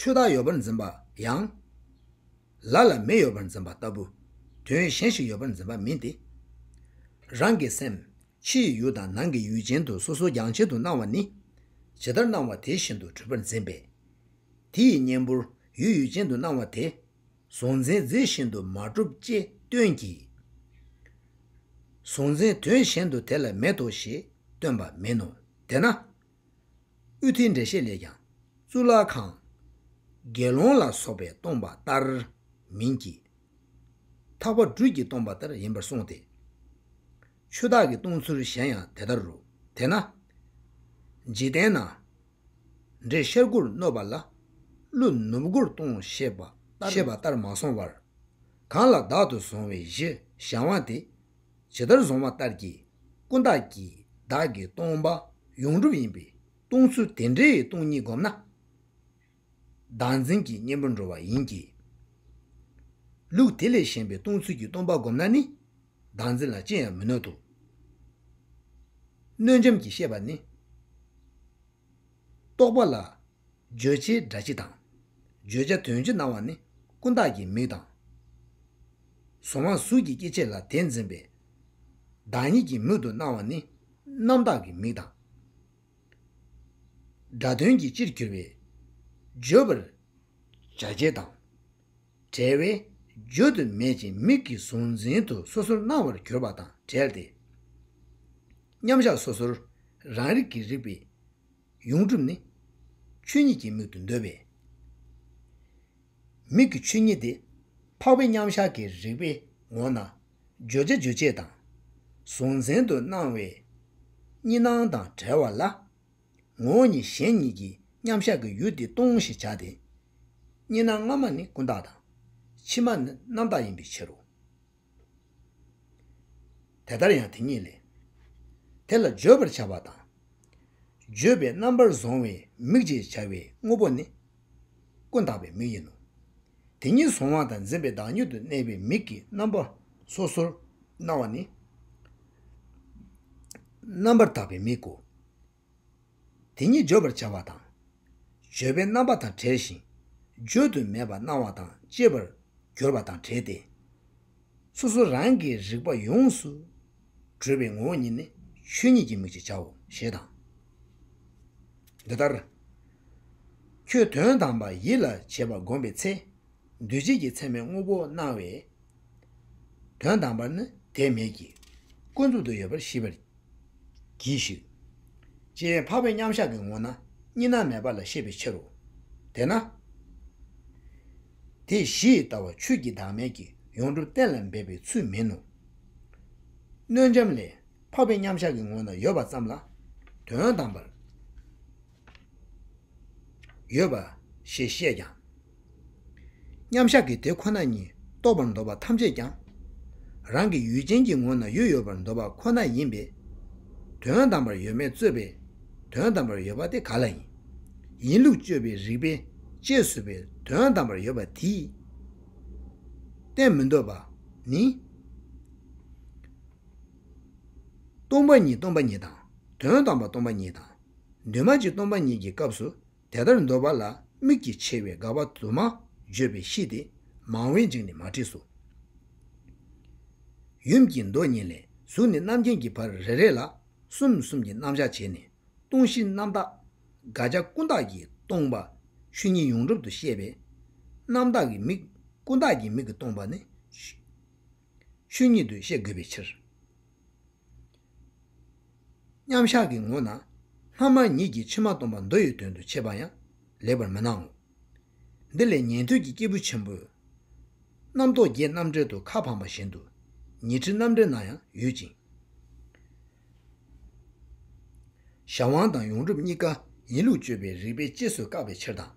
ཆོས་དག་ཡོད་པར་འཛིན་པ་ཡང། ལ་ལ་མི་ཡོད་པར་འཛིན་པ་ལྟ་བུ། དོན་གཞན་ཞིག་ཡོད་པར་འཛིན་པ་མིན་ཏེ། རང་གི་སེམས། ཕྱི་ཡི་ཡུལ་དང་ནང་གི་ཡུལ་ཅན་དུ་སོ་སོ་རྒྱང་ཆད་དུ་སྣང་བ་ནི། ཇི་ལྟར་སྣང་བ་དེ་བཞིན་དུ་གྲུབ་པར་འཛིན་པས། དེ་ཡི་གཉེན་པོར་ཡུལ་ཡུལ་ཅན་དུ་སྣང་བ་དེ། གཟུང་འཛིན་རྫས་བཞིན་དུ་མ་གྲུབ་ཅེས་སྟོན་གྱི། གཟུང་འཛིན་དོན་གཞན་དུ་དེ་ལ་མེད་དོ་ཞེས་སྟོན་པ་མིན་ནོ། དེས་ན། དབུས་མཐའི་འགྲེལ་བཤད་ལས་ཀྱང། གཙུག་ལག་ཁང། དགེ་སློང་ལ་སོགས་པས་སྟོང་པ་ལྟར་མིན་གྱི། འཐག་པ་སྦྲུལ་གྱིས་སྟོང་པ་ལྟར་ཡིན་པར་གསུངས་ཏེ། ཆུ་བདག་གིས་སྟོང་ཚུལ་གཞན་ཡང་དེ་ལྟར་རོ། དེས་ན། འཇིག་རྟེན་ན། འདྲེ་ཤར་སྒོར་བསྣོལ་བ་ལ། ཀླུ་ནུབ་སྒོར་སྟོང་ཞེས་པ་ལྟར་མ་སོང་བར། གང་ལ་བདག་ཏུ་བཟུང་བའི་གཞི་བཞག་དབང་དེ། ཇི་ལྟར་བཟུང་བ་ལྟར་གྱི་ཀུན་བརྟགས་ཀྱི་བདག་གི་སྟོང་པ་ཡོངས་གྲུབ་ཡིན་པས་སྟོང་ཚུལ་དེ་འདྲའི་སྟོང་ཉིད་བསྒོམས་ན། བདག་འཛིན་གྱི་གཉེན་པོར་འགྲོ་བ་ཡིན་གྱི། ལུགས་དེ་ལས་གཞན་པའི་སྟོང་ཚུལ་གྱི་སྟོང་པ་བསྒོམས་ན་ནི་བདག་འཛིན་ལ་ཅི་ཡང་མི་གནོད་དོ། གནོད་འབྱམས་ཀྱི་ཤེས་པ་ནི། རྟོག་པ་ལ་བརྗོད་བྱའི་སྒྲ་སྤྱི་དང། བརྗོད་བྱ་དོན་སྤྱི་སྣང་བ་ནི་ཀུན་བརྟགས་ཀྱི་མིག་དང། གཟུང་བ་གཟུགས་ཀྱི་སྐྱེ་མཆེད་ལ་དེ་འཛིན་པའི་བདག་ཉིད་ཀྱི་མིག་ཏུ་སྣང་བ་ནི་རྣམ་བརྟགས་ཀྱི་མིག་དང། སྒྲ་དོན་གྱི་སྤྱིར་གྱུར་པའི་བརྗོད་པར་བྱ་བྱེད་དང་བྲལ་བས་བརྗོད་དུ་མེད་ཅིང་མིག་གི་གཟུང་འཛིན་དུ་སོ་སོར་སྣང་བར་གྱུར་པ་དང་བྲལ་ཏེ། མཉམ་གཞག་སོ་སོར་རང་རིག་གི་རིག་པའི། ཡོངས་གྲུབ་ནི། ཆོས་ཉིད་ཀྱི་མིག་ཏུ་འདོད་པས། མིག་གི་ཆོས་ཉིད་དེ། འཕགས་པའི་མཉམ་གཞག་གི་རིགས་པའི་ངོ་ན། བརྗོད་བྱ་རྗོད་བྱེད་དང། གཟུང་འཛིན་དུ་སྣང་བས། གཉིས་སྣང་དང་བྲལ་བ་ལ། ངོ་བོ་ཉིད་གཞན་ཉིད་ཀྱི་མཉམ་གཞག་གི་ཡུལ་དེ་སྟོང་ཞེས་བྱ་སྟེ། གཉིས་སྣང་སྔ་མ་ནི་ཀུན་བརྟགས་དང། ཕྱི་མ་ནི་རྣམ་བརྟགས་ཡིན་པའི་ཕྱིར་རོ། དེ་ལྟར་ཡང་དེ་ཉིད་ལས། དེ་ལ་བརྗོད་པར་བྱ་བ་དང། བརྗོད་པའི་རྣམ་པར་བཟུང་བའི་མིག་ཅེས་བྱ་བའི་དངོས་པོ་ནི། ཀུན་བརྟགས་པའི་མིག་ཡིན་ནོ། དེ་ཉིད་གཟུང་བ་དང་འཛིན་པའི་བདག་ཉིད་དུ་གནས་པའི་མིག་གི་རྣམ་པ་སོ་སོར་སྣང་བ་ནི། རྣམ་པར་དག་པའི་མིག་གོ། དེ་ཉིད་བརྗོད་པར་བྱ་བ་དང། བརྗོད་པའི་རྣམ་པ་དང་བྲལ་ཞིང་བརྗོད་དུ་མེད་པར་སྣང་བ་དང་བཅས་པར་འགྱུར་བ་དང་བྲལ་ཏེ། སོ་སོ་རང་གིས་རིག་པ་ཡོངས་སུ་གྲོལ་བའི་ངོ་བོ་ཉིད་ནི་ཆོས་ཉིད་ཀྱི་མིག་ཅེས་བྱའོ་ཞེས་དང། འདི་ལྟར། ཁྱོད་དོན་དམ་པ་ཡིད་ལ་བྱེད་པ་བསྒོམ་པའི་ཚེ། འདུས་བྱས་ཀྱི་མཚན་མའི་དངོས་པོ་སྣང་བས། དོན་དམ་པར་ནི་དེ་མེད་ཀྱི། ཀུན་རྫོབ་ཏུ་ཡོད་པར་ཤེས་པར་གྱིས་ཤིག། ཅེས་འཕགས་པའི་མཉམ་བཞག་གི་ངོ་ན་གཉིས་སྣང་མེད་པ་ལ་བཤད་པའི་ཕྱིར་རོ། དེས་ན། དེ་བཞིས་ལྟ་བ་ཆོས་ཀྱི་བདག་མེད་ཀྱི་ཡོངས་གྲུབ་གཏན་ལ་འབེབས་པའི་ཚུལ་མིན་ནོ། གནོད་འབྱམས་ལས། འཕགས་པའི་མཉམ་བཞག་གི་ངོ་ན་ཡོད་པ་ཙམ་ལ། དོན་དམ་པར། ཡོད་པ་ཞེས་བཤད་ཀྱང། མཉམ་བཞག་གི་དེ་ཁོ་ན་ཉིད་རྟོགས་པར་འདོད་པ་ཐམས་ཅད་ཀྱང། རང་གི་ཡུལ་ཅན་གྱི་ངོ་ན་ཡུལ་ཡོད་པར་འདོད་པ་ཁོ་ན་ཡིན་པས། དོན་དམ་པར་ཡོད་མེད་རྩོད་པའི་དོན་དམ་པར་ཡོད་པ་དེ་ག་ལ་ཡིན། ཡིན་ལུགས་དཔྱོད་པའི་རིགས་པས་དཔྱད་བཟོད་པའི་དོན་དམ་པར་ཡོད་པ་དེས་བསྟན་མི་འདོད་པ་ནི། སྟོང་པ་ཉིད་སྟོང་པ་ཉིད་དང་དོན་དམ་པ་སྟོང་པ་ཉིད་དང། འདུས་མ་བྱས་སྟོང་པ་ཉིད་ཀྱི་སྐབས་སུ་དེ་ལྟར་འདོད་པ་ལ་དམིགས་ཀྱིས་ཕྱེ་བའི་དགག་པ་དུ་མ་བརྗོད་པའི་གཤིས་ཏེ་མང་བོའི་འཇིགས་ནི་མ་བྲིས་སོ། ཡུམ་གྱི་མདོ་གཉིས་ལས་གཟུགས་ནི་རྣམ་མཁྱེན་གྱི་བར་རེ་རེ་ལ་གསུམ་གསུམ་གྱི་རྣམ་གཞག་བྱས་ནས་སྟོང་གཞི་རྣམ་དག། དགག་བྱ་ཀུན་བཏགས་ཀྱིས་སྟོང་པ་ཆོས་ཉིད་ཡོངས་གྲུབ་ཏུ་བཤད་པས། རྣམ་དག་གི་མིག་ཀུན་བཏགས་ཀྱི་མིག་གིས་སྟོང་པ་ནི། ཆོས་ཉིད་དུ་ཤེས་དགོས་པའི་ཕྱིར། མཉམ་གཞག་གི་ངོ་ན་སྔ་མ་ཉིད་ཀྱིས་ཕྱི་མ་སྟོང་པ་མདོ་ཡི་དོན་དུ་འཆད་པ་ཡང་ལེགས་པར་མི་སྣང་ངོ། འདི་ལས་ཉན་ཐོས་ཀྱི་སྐྱེས་བུ་ཆེན་པོས། རྣམ་རྟོག་བརྒྱད་རྣམ་བྲལ་དུ་ཁ་འཕངས་པ་བཞིན་དུ་ཉི་ཁྲི་རྣམ་བྲལ་ན་ཡང་ཡོད་ཅིང། ཞབས་དབང་དང་ཡོངས་གྲུབ་གཉིས་ཀ་ཡིན་ལུགས་དཔྱོད་པའི་རིགས་པས་གཅེས་སུ་བཀག་པའི་ཕྱིར་དང།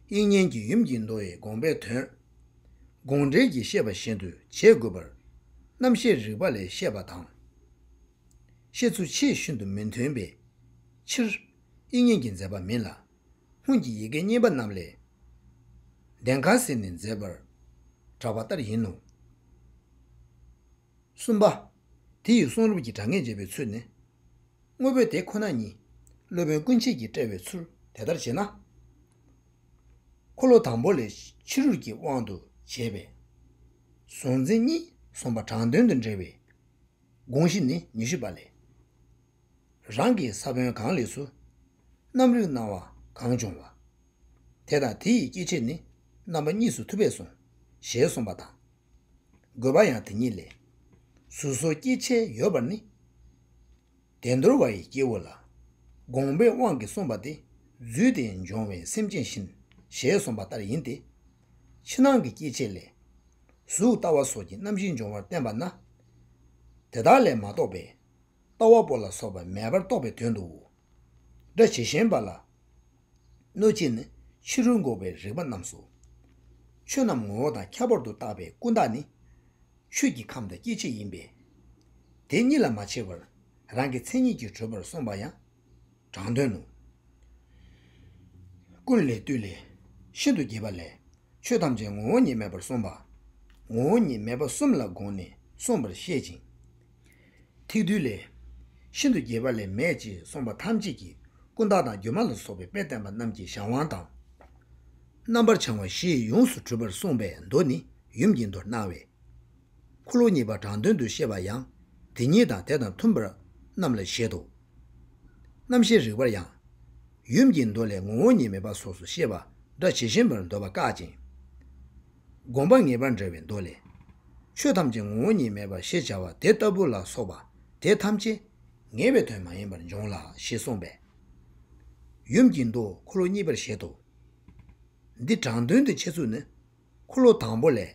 དབྱིག་གཉེན་གྱི་ཡུམ་གྱིས་མདོ་ཡི་དགོངས་པའི་དོན། དགོངས་འགྲེལ་གྱི་བཤད་པ་བཞིན་དུ་བྱེད་དགོས་པར། རྣམ་བཤད་རིགས་པ་ལས་བཤད་པ་དང། བཤད་ཚུལ་ཆེས་ཤིན་ཏུ་མི་མཐུན་པའི་ཕྱིར། དབྱིག་གཉེན་གྱིས་མཛད་པ་མིན་ལ། སྔོན་གྱི་ཡི་གེ་རྙེད་པ་རྣམས་ལས། བདེན་ཁ་ཟེར་ནས་མཛད་པར་གྲགས་པ་ལྟར་ཡིན་ནོ། གསུམ་པ། དེ་ཡི་གསུང་རབ་ཀྱི་སྒྲ་ངེས་འབྱེད་པའི་ཚུལ་ནི། དངོས་པོའི་དེ་ཁོ་ན་ཉིད། སློབ་དཔོན་ཀུན་བྱེད་ཀྱིས་བཀྲལ་བའི་ཚུལ་དེ་ལྟར་བྱེད་ན། འཁོར་ལོ་དང་པོ་ལས་ཕྱི་རོལ་གྱི་དབང་དུ་བྱས་པས། གཟུང་འཛིན་གཉིས་གསུམ་པ་དྲང་དོན་དུ་འབྲེལ་བའི་དགོངས་གཞི་ནི་ཉི་ཤུ་པ་ལས། རང་གི་ས་བོན་གང་ལས་སུ། རྣམ་རིག་སྣང་བ་གང་བྱུང་བ། དེ་དང་དེ་ཡི་སྐྱེ་མཆེད་ནི། རྣམ་པ་གཉིས་སུ་ཐུབ་པས་གཟུང། ཞེས་གསུངས་པ་དང། དགོས་པ་ཡང་དེ་ཉིད་ལས། གཟུགས་སོགས་སྐྱེ་མཆེད་ཡོད་པར་ནི། བདེ་འདོར་བ་ཡི་སྐྱེ་བོ་ལ། དགོངས་པའི་དབང་གིས་གསུངས་པ་སྟེ་རྫུས་ཏེ་འབྱུང་བའི་སེམས་ཅན་བཞིན་ཞེས་གསུངས་པ་ལྟར་ཡིན་ཏེ། ཕྱི་ནང་གི་སྐྱེ་མཆེད་ལས། གཟུགས་ལྟ་བ་སོགས་ཀྱི་རྣམ་བཞི་འབྱུང་བར་བསྟན་པ་ན། དེ་དག་ལས་མ་གཏོགས་པའི། ལྟ་བ་པོ་ལ་སོགས་པ་མེད་པར་རྟོགས་པའི་དོན་དུའོ། སྒྲ་ཇི་བཞིན་པ་ལ། གནོད་བྱེད་ནི་ཕྱི་རོལ་འགོག་པའི་རིག་པ་རྣམས་སོ། ཆོས་རྣམས་ངོ་བོ་དང་ཁྱད་པར་དུ་བཏགས་པའི་ཀུན་བརྟགས་ནི། ཆོས་ཀྱི་ཁམས་དང་སྐྱེ་མཆེད་ཡིན་པས། དེ་གཉིས་ལ་མ་ཕྱེ་བར་རང་གི་མཚན་ཉིད་ཀྱིས་གྲོལ་བར་གསུངས་པ་ཡང་དྲང་དོན་ནོ། ཀུན་ལས་བཏུས་ལས་ཤིན་ཏུ་རྒྱས་པ་ལས། ཆོས་ཐམས་ཅད་ངོ་བོ་ཉིད་མེད་པར་གསུངས་པ། ངོ་བོ་ཉིད་མེད་པ་གསུམ་ལ་དགོངས་ནས་གསུངས་པར་བཤད་ཅིང། ཐིག་རྡུལ་ལས། ཤིན་ཏུ་རྒྱས་པ་ལས་མེད་ཅེས་གསུངས་པ་ཐམས་ཅད་ཀྱིས་ཀུན་བརྟགས་དང་སྒྱུ་མ་ལ་སོགས་པའི་དཔེས་བསྟན་པ་རྣམས་ཀྱི་གཞན་དབང་དང། རྣམ་པར་བྱང་བ་བཞིས་ཡོངས་སུ་གྲུབ་པར་གསུངས་པའི་མདོ་ནི་ཡུམ་གྱི་མདོར་སྣང་བས། འཁོར་ལོ་གཉིས་པ་དྲང་དོན་དུ་བཤད་པ་ཡང་དེ་ཉིད་དང་དེ་དང་མཐུན་པ་རྣམས་ལ་བཞེད་དོ། རྣམ་ཤེས་རིག་པར་ཡང། ཡུམ་གྱི་མདོ་ལས་ངོ་བོ་ཉིད་མེད་པ་སོགས་སུ་བཤད་པ་སྒྲ་ཇི་བཞིན་པར་འདོད་པ་བཀག་ཅིང། བསྒོམ་པ་ངེས་པར་འདྲ་བའི་མདོ་ལས། ཆོས་ཐམས་ཅད་ངོ་བོ་ཉིད་མེད་པ་ཞེས་བྱ་བ་དེ་ལྟ་བུ་ལ་སོགས་པ་དེ་ཐམས་ཅད་ངེས་པའི་དོན་མ་ཡིན་པར་འབྱུང་ལ་ཞེས་གསུངས་པས། ཡུམ་གྱི་མདོ་འཁོར་ལོ་གཉིས་པར་བཞེད་དོ། འདི་དྲང་དོན་དུ་འཆད་ཚུལ་ནི། འཁོར་ལོ་དང་པོ་ལས།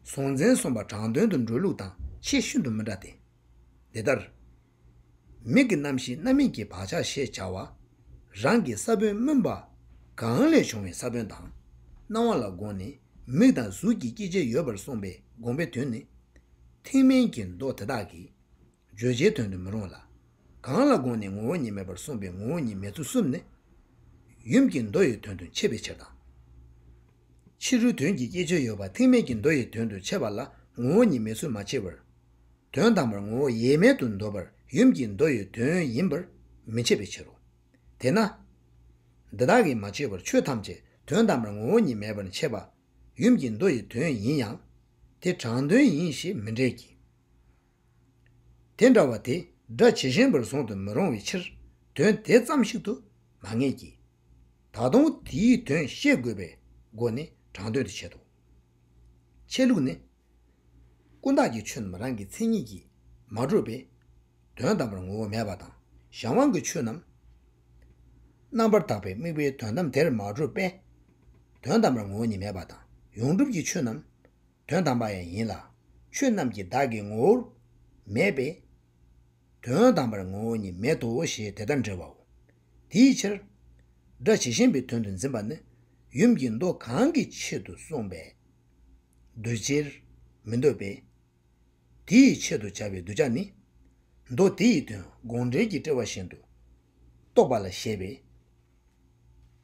གཟུང་འཛིན་གསུམ་པ་དྲང་དོན་དུ་འགྲོལ་ལུགས་དང་ཆེས་ཤིན་ཏུ་མི་འདྲ་སྟེ། འདི་ལྟར། མིག་གི་རྣམ་ཤེས་རྣམ་སྨིན་གྱི་བག་ཆགས་ཞེས་བྱ་བ། རང་གི་ས་བོན་སྨོན་པ། གང་ལས་བྱུང་བའི་ས་བོན་དང། སྣང་བ་ལ་དགོངས་ནས་མིག་དང་གཟུགས་ཀྱི་སྐྱེ་མཆེད་ཡོད་པར་གསུངས་པའི་དགོངས་པའི་དོན་ནི། ཐེག་དམན་གྱི་མདོ་དེ་དག་གིས་བརྗོད་བྱའི་དོན་དུ་མི་རུང་ལ། གང་ལ་དགོངས་ནས་ངོ་བོ་ཉིད་མེད་པར་གསུངས་པའི་ངོ་བོ་ཉིད་མེད་ཚུལ་གསུམ་ནི། ཡུམ་གྱི་མདོ་ཡི་དོན་དུ་འཆད་པའི་ཕྱིར་དང། ཕྱི་རོལ་དོན་གྱི་སྐྱེ་མཆེད་ཡོད་པ་ཐེག་དམན་གྱི་མདོ་ཡི་དོན་དུ་འཆད་པ་ལ་ངོ་བོ་ཉིད་མེད་ཚུལ་མ་ཕྱེ་བར། དོན་དམ་པར་ངོ་བོ་ཡེ་མེད་དུ་འདོད་པར་ཡུམ་གྱི་མདོ་ཡི་དོན་ཡིན་པར་མི་བྱེད་པའི་ཕྱིར་རོ། དེས་ན། འདི་དག་གིས་མ་བཅོས་པར་ཆོས་ཐམས་ཅད་དོན་དམ་པར་ངོ་བོ་ཉིད་མེད་པར་འཆད་པ། ཡུམ་གྱི་མདོ་ཡི་དོན་ཡིན་ཡང། དེ་དྲང་དོན་ཡིན་ཞེས་མི་འགྲེལ་གྱི། དེ་འདྲ་བ་དེ་སྒྲ་ཇི་བཞིན་པར་བཟུང་དུ་མི་རུང་བའི་ཕྱིར། དོན་དེ་ཙམ་ཞིག་ཏུ་མ་ངེས་ཀྱི། ད་དུང་དེའི་དོན་ཤེས་དགོས་པའི་སྒོ་ནས་དྲང་དོན་དུ་འཆད་དོ། འཆད་ལུགས་ནི། ཀུན་བརྟགས་ཀྱི་ཆོས་རྣམས་རང་གི་མཚན་ཉིད་ཀྱིས་མ་གྲུབ་པས། དོན་དམ་པར་ངོ་བོ་མེད་པ་དང་གཞན་དབང་གི་ཆོས་རྣམས། རྣམ་པར་དག་པའི་དམིགས་པའི་དོན་དམ་དེར་མ་གྲུབ་པས། དོན་དམ་པར་ངོ་བོ་ཉིད་མེད་པ་དང་ཡོངས་གྲུབ་ཀྱི་ཆོས་རྣམས། དོན་དམ་པ་ཡང་ཡིན་ལ། ཆོས་རྣམས་ཀྱི་བདག་གི་ངོ་བོར་མེད་པས། དོན་དམ་པར་ངོ་བོ་ཉིད་མེད་དོ་ཞེས་དེ་ལྟར་འདྲི་བའོ། དེའི་ཕྱིར། སྒྲ་ཇི་བཞིན་པའི་དོན་དུ་འཛིན་པ་ནི། ཡུམ་གྱི་མདོ་གང་གི་ཆེད་དུ་གསུངས་པས། འདོད་ཕྱིར་མི་འདོད་པས། དེ་ཡི་ཆེད་དུ་བྱ་བའི་གདུལ་བྱ་ནི། མདོ་དེ་ཡི་དོན་དགོངས་འགྲེལ་གྱི་དཔྲལ་བ་བཞིན་དུ་རྟོགས་པ་ལ་བཞེད་པས།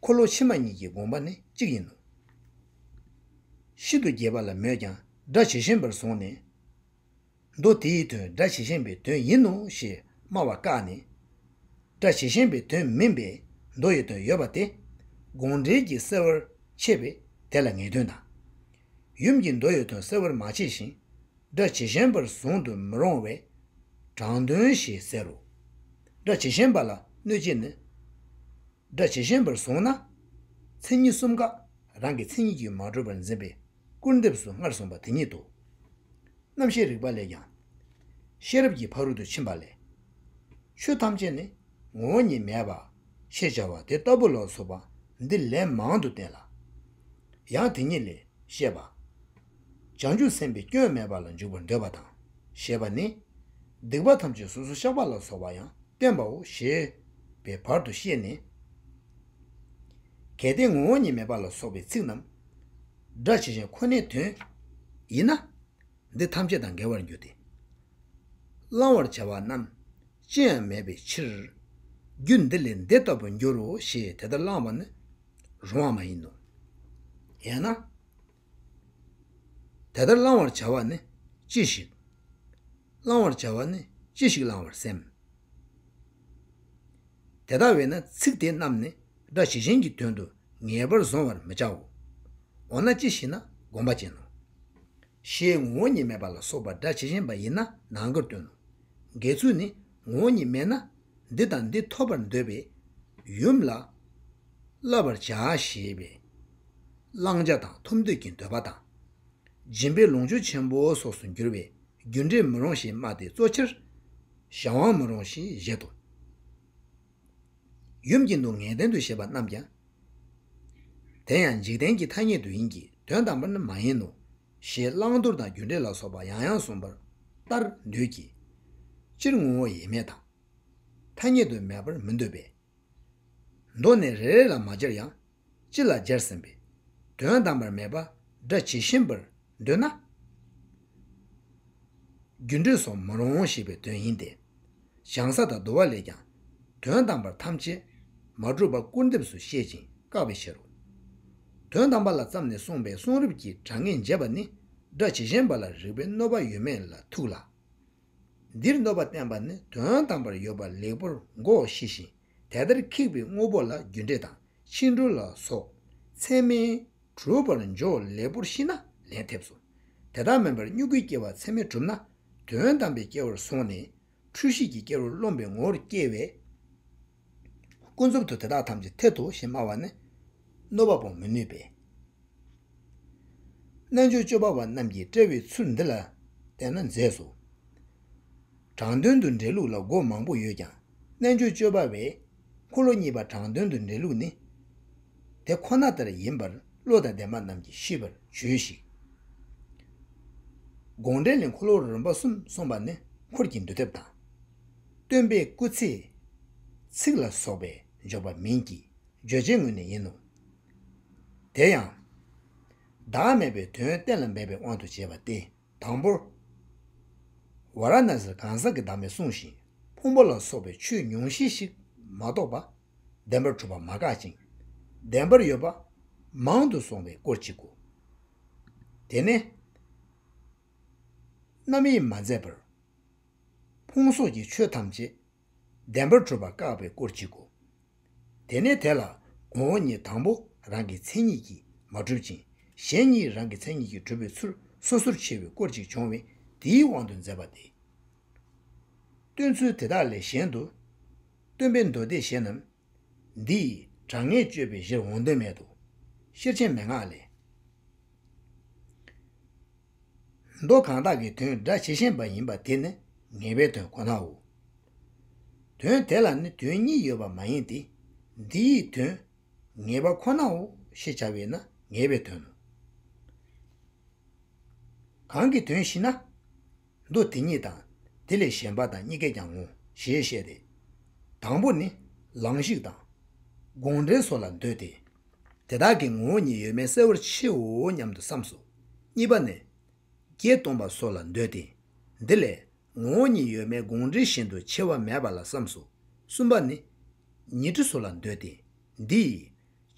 འཁོར་ལོ་ཕྱི་མ་གཉིས་ཀྱི་དགོངས་པ་ནི་གཅིག་ཡིན་ནོ། ཤིན་ཏུ་རྒྱས་པ་ལ་མོས་ཀྱང་སྒྲ་ཇི་བཞིན་པར་བཟུང་ནས། མདོ་དེ་ཡི་དོན་སྒྲ་ཇི་བཞིན་པའི་དོན་ཡིན་ནོ་ཞེས་སྨྲ་བ་བཀག་ནས། སྒྲ་ཇི་བཞིན་པའི་དོན་མིན་པའི་མདོ་ཡི་དོན་ཡོད་པ་དེ། དགོངས་འགྲེལ་གྱིས་གསལ་བར་ཕྱེས་པས་དེ་ལ་ངེས་དོན་དང། ཡུམ་གྱི་མདོ་ཡི་དོན་གསལ་བར་མ་ཕྱེས་ཤིང། སྒྲ་ཇི་བཞིན་པར་བཟུང་དུ་མི་རུང་བས། དྲང་དོན་ཞེས་ཟེར་རོ། སྒྲ་ཇི་བཞིན་པ་ལ་གནོད་བྱེད་ནི། སྒྲ་ཇི་བཞིན་པར་བཟུང་ན། མཚན་ཉིད་གསུམ་ཀ་རང་གི་མཚན་ཉིད་ཀྱིས་མ་གྲུབ་པར་འཛིན་པས། སྐུར་འདེབས་སུ་སྔར་གསུངས་པ་དེ་ཉིད་དོ། རྣམ་ཤེས་རིག་པ་ལས་ཀྱང། ཤེས་རབ་ཀྱི་ཕ་རོལ་ཏུ་ཕྱིན་པ་ལས། ཆོས་ཐམས་ཅད་ནི་ངོ་བོ་ཉིད་མེད་པ། ཞེས་བྱ་བ་དེ་ལྟ་བུ་ལ་སོགས་པ་འདི་ལན་མང་དུ་བསྟན་ལ། ཡང་དེ་ཉིད་ལས་བཤད་པ། བྱང་ཆུབ་སེམས་དཔའི་སྐྱོན་མེད་པ་ལ་འཇུག་པར་འདོད་པ་དང། ཞེས་པ་ནི། སྡིག་པ་ཐམས་ཅད་སོ་སོར་བཤགས་པ་ལ་སོགས་པ་ཡང་བསྟན་པའོ་ཞེས་པའི་བར་དུ་ཤེས་ནས། གལ་ཏེ་ངོ་བོ་ཉིད་མེད་པ་ལ་སོགས་པའི་ཚིག་རྣམས་སྒྲ་ཇི་བཞིན་ཁོ་ནའི་དོན་ཡིན་ན། འདི་ཐམས་ཅད་དང་འགལ་བར་འགྱུར་ཏེ། བླང་བར་བྱ་བ་རྣམས་ཅི་ཡང་མེད་པའི་ཕྱིར། རྒྱུ་འདི་ལས་འདི་ལྟ་བུར་འགྱུར་རོ་ཞེས་དེ་ལྟར་བླང་བ་ནི་རུང་བ་མ་ཡིན་ནོ། ཡང་ན། དེ་ལྟར་བླང་བར་བྱ་བ་ནི་ཅི་ཞིག། བླང་བར་བྱ་བ་ནི་ཅི་ཞིག་བླང་བར་སེམས། དེ་ལྟ་བས་ན་ཚིག་དེ་རྣམས་ནི་སྒྲ་ཇི་བཞིན་གྱི་དོན་དུ་ངེས་པར་གཟུང་བར་མི་བྱའོ། འོ་ན་ཅི་ཞིག་ན་བསྒོམ་པ་ཅན་ནོ། ཞེས་ངོ་བོ་ཉིད་མེད་པ་ལ་སོགས་པ་སྒྲ་ཇི་བཞིན་པ་ཡིན་ན་ནང་གི་དོན་ནོ། འགལ་ཚུལ་ནི་ངོ་བོ་ཉིད་མེད་ན། འདི་དང་འདི་ཐོབ་པར་འདོད་པས་ཡུམ་ལ་བསླབ་པར་བྱ་ཞེས་པའི་བླང་བྱ་དང་ཐོབ་འདོད་ཀྱི་འདོད་པ་དང། སྦྱིན་པའི་ལོངས་སྤྱོད་ཆེན་པོ་སོགས་སུ་འགྱུར་བས་རྒྱུ་འབྲས་མི་རུང་ཞེས་སྨྲ་སྟེ་གཙོ་ཆེར་གཞན་དབང་མི་རུང་ཞེས་བཞེད་དོ། ཡུམ་གྱི་སྡུག་བསྔལ་ལྡན་དུ་བཞེད་པ་རྣམས་ཀྱང་དེ་ཡང་འཇིག་རྟེན་གྱི་ཐ་སྙད་དུ་ཡིན་གྱི་དོན་དམ་པར་ནི་མ་ཡིན་ནོ། ཞེས་བླང་དོར་དང་རྒྱུ་འབྲས་ལ་སོགས་པ་ཡང་ཡང་གསུངས་པར་ལྟར་འདོད་ཀྱི། སྤྱིར་ངོ་བོ་ཡེ་མེད་དང། ཐ་སྙད་དུ་མེད་པར་མི་འདོད་པས། མདོ་ནས་རེ་རེ་ལ་མ་སྦྱར་ཡང་སྤྱི་ལ་སྦྱར་ཟིན་པས་དོན་དམ་པར་མེད་པ་སྒྲ་ཇི་བཞིན་པར་འདོད་ན། རྒྱུ་འབྲས་སུ་མི་རུང་ཞེས་པའི་དོན་ཡིན་ཏེ། བྱང་ས་དང་བསྡུ་བ་ལས་ཀྱང། དོན་དམ་པར་ཐམས་ཅད་མ་གྲུབ་པ་སྐུར་འདེབས་སུ་བཤད་ཅིང་བཀག་པའི་ཕྱིར་རོ། དོན་དམ་པ་ལ་བརྩམས་ནས་གསུངས་པའི་གསུང་རབ་ཀྱི་དྲང་ངེས་འབྱེད་པ་ནི་སྒྲ་ཇི་བཞིན་པ་ལ་རིགས་པའི་གནོད་པ་ཡོད་མེད་ལ་ཐུག་ལ། འདིར་གནོད་པ་བསྟན་པ་ནི་དོན་དམ་པར་ཡོད་པ་ལེགས་པོར་མགོ་ཤེས་ཤིང་དེ་ལྟར་ཁེགས་པའི་དངོས་པོ་ལ་རྒྱུ་འབྲས་དང་ཕྱིས་འགྲོ་ལ་སོགས་མཚན་མའི་གྲུབ་པར་འཇོག་ལེགས་པོར་ཤེས་ན་ལན་ཐེབས་སོ། དེ་དག་མིན་པར་སྨྱུ་གུས་སྐྱེ་བ་མཚན་མས་གྲུབ་ན་དོན་དམ་པའི་སྐྱེ་བོར་སོང་ནས་འཁྲུལ་ཤེས་ཀྱི་སྐྱེ་བོར་རློམ་པའི་ངོ་བོར་སྐྱེ་བས། ཀུན་རྫོབ་ཏུ་དེ་དག་ཐམས་ཅད་ཐལ་དུ་ཞེས་སྨྲ་བ་ནི། གནོད་པ་སྤོང་མི་ནུས་པས། རྣལ་འབྱོར་སྤྱོད་པ་བ་རྣམས་ཀྱིས་བཀྲལ་བའི་ཚུལ་འདི་ལ་བལྟས་ན་མཛེས་སོ། དྲང་དོན་དུ་འགྲེལ་ལུགས་ལ་སྒོ་མང་པོ་ཡོད་ཀྱང། རྣལ་འབྱོར་སྤྱོད་པ་བས། འཁོར་ལོ་གཉིས་པ་དྲང་དོན་དུ་འདྲེན་ལུགས་ནི། དེ་ཁོ་ན་ལྟར་ཡིན་པར་བློ་དང་ལྡན་པ་རྣམས་ཀྱིས་ཤེས་པར་བྱོས་ཤིག། དགོངས་འགྲེལ་ལས་འཁོར་ལོ་རིམ་པ་གསུམ་གསུངས་པ་ནི་འཁོར་གྱི་འདུལ་ཐབས་དང། སྟོན་པའི་སྐུ་ཚེའི་ཚིགས་ལ་སོགས་པས་འཇོག་པ་མིན་གྱི་བརྗོད་བྱའི་ངོས་ནས་ཡིན་ནོ། དེ་ཡང། བདག་མེད་པའི་དོན་གཏན་ལ་འབེབས་པའི་དབང་དུ་བྱས་པ་སྟེ། དང་པོར། ཝཱ་ར་ཎཱ་སིར་གང་ཟག་གི་བདག་མེད་གསུངས་ཤིང་ཕུང་པོ་ལ་སོགས་པའི་ཆོས་ཉུང་ཤས་ཤིག་མ་གཏོགས་པ། བདེན་པར་གྲུབ་པ་མ་འགག་ཅིང་བདེན་པར་ཡོད་པ། མང་དུ་སོང་བའི་སྐོར་གཅིག་གོ། དེ་ནས། རྣམ་དབྱེ་མ་མཛད་པར། ཕུང་སོགས་ཀྱི་ཆོས་ཐམས་ཅད་བདེན་པར་གྲུབ་པ་བཀག་པའི་སྐོར་གཅིག་གོ། དེ་ནས་དེ་ལ་ངོ་བོ་ཉིད་དང་པོ་རང་གི་མཚན་ཉིད་ཀྱིས་མ་གྲུབ་ཅིང་གཞན་ཉིད་རང་གི་མཚན་ཉིད་ཀྱིས་གྲུབ་པའི་ཚུལ་སོ་སོར་ཕྱེ་བའི་སྐོར་ཅིག་འབྱུང་བས་དེའི་དབང་དུ་མཛད་པ་སྟེ། སྟོན་ཚུལ་དེ་དག་ལས་གཞན་དུ། སྟོན་པའི་མདོ་སྡེ་གཞན་རྣམས། འདིས་དྲང་ངེས་དཔྱོད་པའི་གཞིར་འོང་དོན་མེད་དོ། ཤེར་ཕྱིན་མན་ངག་ལས། མདོ་གང་དག་གི་དོན་སྒྲ་ཇི་བཞིན་པ་ཡིན་པ་དེ་ནི་ངེས་པའི་དོན་ཁོ་ནའོ། དོན་དེ་ལ་ནི་དོན་གཉིས་ཡོད་པ་མ་ཡིན་ཏེ། འདི་ཡི་དོན། ངེས་པ་ཁོ་ནའོ་ཞེས་བྱ་བས་ན་ངེས་པའི་དོན་ནོ། གང་གི་དོན་ཞེ་ན། མདོ་དེ་ཉིད་དང་དེ་ལས་གཞན་པ་དང་གཉི་གས་ཀྱང་ངོ་ཞེས་བཤད་དེ། དང་པོ་ནི། ལང་གཞིག་དང། དགོངས་འགྲེལ་སོགས་ལ་འདོད་དེ། དེ་དག་གི་ངོ་བོ་ཉིད་ཡོད་མེད་གསལ་བོར་ཕྱེའོ་སྙམ་དུ་བསམས་སོ། གཉིས་པ་ནི། བརྒྱད་སྟོང་པ་སོགས་ལ་འདོད་དེ། འདི་ལས། ངོ་བོ་ཉིད་ཡོད་མེད་དགོངས་འགྲེལ་བཞིན་དུ་ཕྱེ་བ་མེད་པ་ལ་བསམས་སོ། གསུམ་པ་ནི། ཉི་ཁྲི་སོགས་ལ་འདོད་དེ། འདི་ཡིས།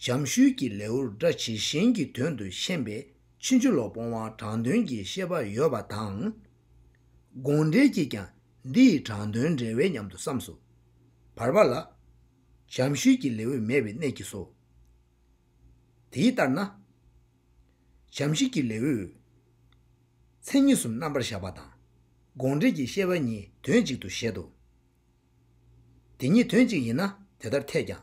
བྱམས་ཤུལ་གྱི་ལེའུར་སྒྲ་ཇི་བཞིན་གྱི་དོན་དུ་ཤེས་པས་ཕྱིན་ཅི་ལོག་སྤོང་བ་དྲང་དོན་གྱི་ཤེས་པ་ཡོད་པ་དང། དགོངས་འགྲེལ་གྱིས་ཀྱང་འདི་ཡི་དྲང་དོན་འགྲེལ་བས་སྙམ་དུ་བསམས་སོ། བར་པ་ལ། བྱམས་ཤུལ་གྱི་ལེའུས་མེད་པའི་གནད་ཀྱིས་སོ། དེའི་ལྟར་ན། བྱམས་ཤུལ་གྱི་ལེའུས། མཚན་ཉིད་གསུམ་རྣམ་པར་བཞག་པ་དང། དགོངས་འགྲེལ་གྱི་ཤེས་པ་གཉིས་དོན་གཅིག་ཏུ་བཞེད་དོ། དེ་གཉིས་དོན་གཅིག་ཡིན་ན་དེ་ལྟར་འཐད་ཀྱང།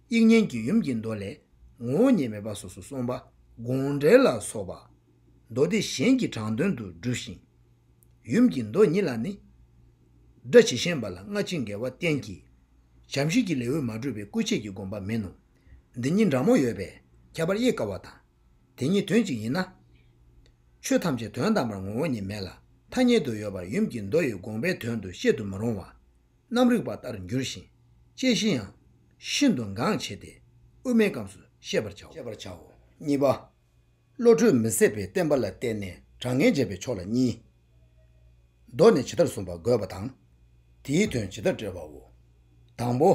དབྱིག་གཉེན་གྱི་ཡུམ་གྱི་མདོ་ལས་ངོ་བོ་ཉིད་མེད་པ་སོ་སོར་གསུངས་པ་དགོངས་འགྲེལ་ལ་སོགས་པ། མདོ་སྡེ་གཞན་གྱི་དྲང་དོན་དུ་བསྒྲུབས་ཤིང། ཡུམ་གྱི་མདོ་ཉིད་ལ་ནི། སྒྲ་ཇི་བཞིན་པ་ལ་སྔ་ཕྱི་འགལ་བ་གཏན་གྱི་བྱམས་ཤིང་གི་ལེའུས་མ་སྤྲོས་པའི་སྐུ་ཆས་ཀྱི་དགོངས་པ་མིན་ནོ། འདི་གཉིས་འདྲ་མོ་ཡོད་པས་ཁྱད་པར་དབྱེ་དཀའ་བ་དང། དེ་གཉིས་དོན་གཅིག་ཡིན་ན། ཆོས་ཐམས་ཅད་དོན་དམ་པར་ངོ་བོ་ཉིད་མེད་ལ་ཐ་སྙད་དུ་ཡོད་པར་ཡུམ་གྱི་མདོ་ཡི་དགོངས་པའི་དོན་དུ་བཤད་དུ་མི་རུང་བ། རྣམ་རིག་པ་ལྟར་འགྱུར་ཞིང་དཔྱད་གཞི་ཡང། ཤིན་ཏུ་འགངས་ཆེ་སྟེ་དབུ་མའི་སྐབས་སུ་ཤེས་པར་བྱའོ། གཉིས་པ། བློ་གྲོས་མི་ཟད་པའི་བསྟན་པ་ལ་བརྟེན་ནས་དྲང་ངེས་འབྱེད་པའི་ཕྱོགས་ལ་གཉིས། མདོ་ནས་ཇི་ལྟར་གསུངས་པ་དགོས་པ་དང། དེའི་དོན་ཇི་ལྟར་བཀྲལ་བའོ། དང་པོ།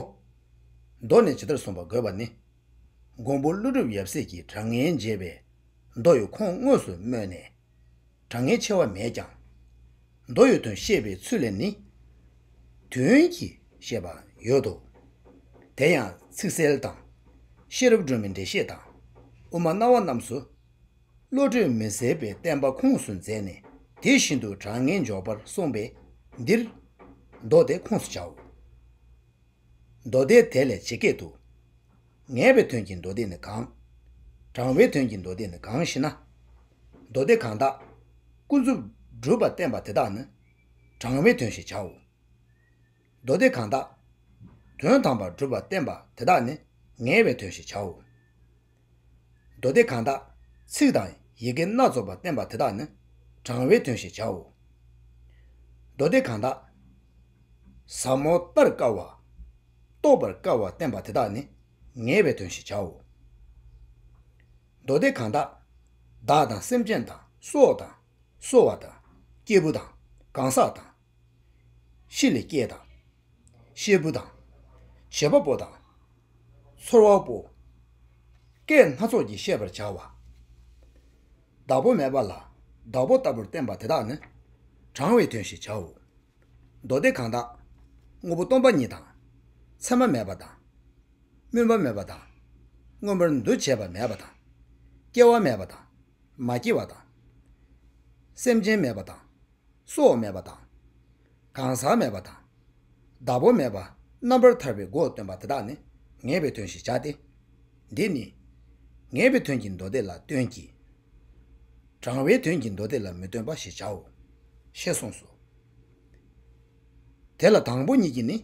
མདོ་ནས་ཇི་ལྟར་གསུངས་པ་དགོས་པ་ནི། མགོན་པོ་ཀླུ་སྒྲུབ་ཡབ་སྲས་ཀྱིས་དྲང་ངེས་འབྱེད་པའི་མདོ་ཡི་ཁུངས་དངོས་སུ་སྨོས་ནས། དྲང་ངེས་ཕྱེ་བ་མེད་ཀྱང། མདོ་ཡོད་དོན་ཤེས་པའི་ཚུལ་ལས་ནི། དོན་གྱི་ཤེས་པ་ཡོད་དོ། དེ་ཡང་ཚིག་གསལ་དང། ཤེས་རབ་སྒྲོན་མེ་འགྲེལ་བཤད་དང། དབུ་མ་རྣ་བ་རྣམས་སུ། བློ་གྲོས་མི་ཟད་པའི་བསྟན་པ་ཁུངས་སུ་མཛད་ནས་དེ་བཞིན་དུ་དྲང་ངེས་འཇོག་པར་གསུངས་པས་འདིར། མདོ་སྡེ་ཁུངས་སུ་བྱའོ། མདོ་སྡེ་དེ་ལས་ཇི་སྐད་དུ། ངེས་པའི་དོན་གྱི་མདོ་སྡེ་ནི་གང། དྲང་བའི་དོན་གྱི་མདོ་སྡེ་ནི་གང་ཞེ་ན། མདོ་སྡེ་གང་དག་ཀུན་རྫོབ་སྒྲུབ་པར་བསྟན་པ་དེ་དག་ནི་དྲང་བའི་དོན་ཞེས་བྱའོ། མདོ་སྡེ་གང་དག་དོན་དམ་པར་སྒྲུབ་པར་བསྟན་པ་དེ་དག་ནི་ངེས་པའི་དོན་ཞེས་བྱའོ། མདོ་སྡེ་གང་དག་ཚིག་དང་ཡི་གེ་སྣ་ཚོགས་པར་བསྟན་པ་དེ་དག་ནི་དྲང་བའི་དོན་ཞེས་བྱའོ། མདོ་སྡེ་གང་དག་ཟབ་མོ་ལྟར་དཀའ་བ། རྟོགས་པར་དཀའ་བར་བསྟན་པ་དེ་དག་ནི་ངེས་པའི་དོན་ཞེས་བྱའོ། མདོ་སྡེ་གང་དག། བདག་དང་སེམས་ཅན་དང་སྲོག་དང། གསོ་བ་དང། སྐྱེས་བུ་དང། གང་ཟག་དང། ཤི་ལ་སྐྱེས་དང། ཤེད་བུ་དང། བྱེད་པ་པོ་དང། ཚོར་བ་པོ། སྐད་སྣ་ཚོགས་ཀྱིས་བཤད་པར་བྱ་བ། བདག་པོ་མེད་པ་ལ་བདག་པོ་ལྟ་བུར་བསྟན་པ་དེ་དག་ནི་དྲང་བའི་དོན་ཞེས་བྱའོ། མདོ་སྡེ་གང་དག། དངོས་པོ་སྟོང་པ་ཉིད་དང། མཚན་མ་མེད་པ་དང། སྨོན་པ་མེད་པ་དང། མངོན་པར་འདུ་བྱེད་པ་མེད་པ་དང། སྐྱེ་བ་མེད་པ་དང། མ་སྐྱེས་པ་དང། སེམས་ཅན་མེད་པ་དང། སྲོག་མེད་པ་དང། གང་ཟག་མེད་པ་དང། བདག་པོ་མེད་པ་རྣམ་པར་ཐར་པའི་སྒོ་སྟོན་པ་དེ་དག་ནི་ངེས་པའི་དོན་ཞེས་བྱ་སྟེ། འདི་ནི། ངེས་པའི་དོན་གྱི་མདོ་སྡེ་ལ་སྟོན་གྱི། བགྲང་བའི་དོན་གྱི་མདོ་སྡེ་ལ་མི་སྟོན་པ་ཞེས་བྱའོ། ཞེས་གསུངས་སོ། དེ་ལ་དང་པོ་གཉིས་ཀྱིས་ནི།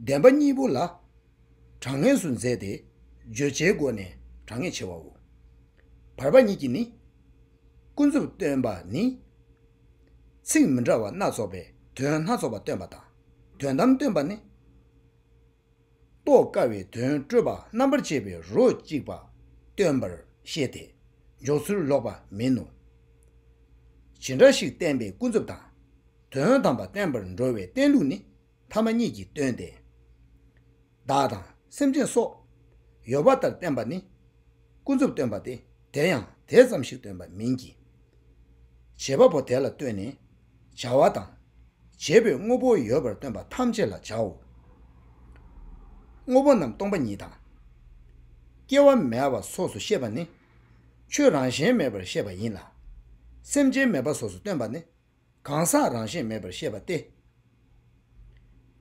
བདེན་པ་གཉིས་པོ་ལ་གྲངས་ངེས་སུ་མཛད་དེ་བརྗོད་བྱའི་སྒོ་ནས་གྲངས་ངེས་བྱེད་བའོ། བར་པ་གཉིས་ཀྱིས་ནི། ཀུན་རྫོབ་སྟོན་པ་ནི། ཚིག་མི་འདྲ་བ་སྣ་ཚོགས་པའི་དོན་སྣ་ཚོགས་པ་སྟོན་པ་དང། དོན་དམ་སྟོན་པ་ནི། རྟོགས་དཀའ་བའི་དོན་སྤྲོས་པ་རྣམ་པར་བཅད་པའི་རོ་གཅིག་པ་སྟོན་པར་བཤད་དེ་འཇོག་ཚུལ་ལོག་པ་མིན་ནོ། ཇི་འདྲ་ཞིག་བསྟན་པའི་ཀུན་རྫོབ་དང། དོན་དམ་པ་བསྟན་པར་འགྲོ་བའི་བསྟན་ལུགས་ནི་ཐ་མ་གཉིས་ཀྱིས་སྟོན་ཏེ། བདག་དང་སེམས་ཅན་སོགས་ཡོད་པ་ལྟར་བསྟན་པ་ནི་ཀུན་རྫོབ་སྟོན་པ་སྟེ་དེ་ཡང་དེ་ཙམ་ཞིག་སྟོན་པ་མིན་གྱི། བྱེད་པ་པོ་དེ་ལ་ལྟོས་ནས། བྱ་བ་དང། བྱེད་པོའི་དངོས་པོ་ཡོད་པར་སྟོན་པ་ཐམས་ཅད་ལ་བྱའོ། དངོས་པོ་རྣམས་སྟོང་པ་ཉིད་དང། སྐྱེ་བ་མེད་པ་སོགས་སུ་ཤེས་པ་ནི། ཆོས་རང་བཞིན་མེད་པར་ཤེས་པ་ཡིན་ལ། སེམས་ཅན་མེད་པ་སོགས་སུ་སྟོན་པ་ནི་གང་ཟག་རང་བཞིན་མེད་པར་ཤེས་པ་སྟེ།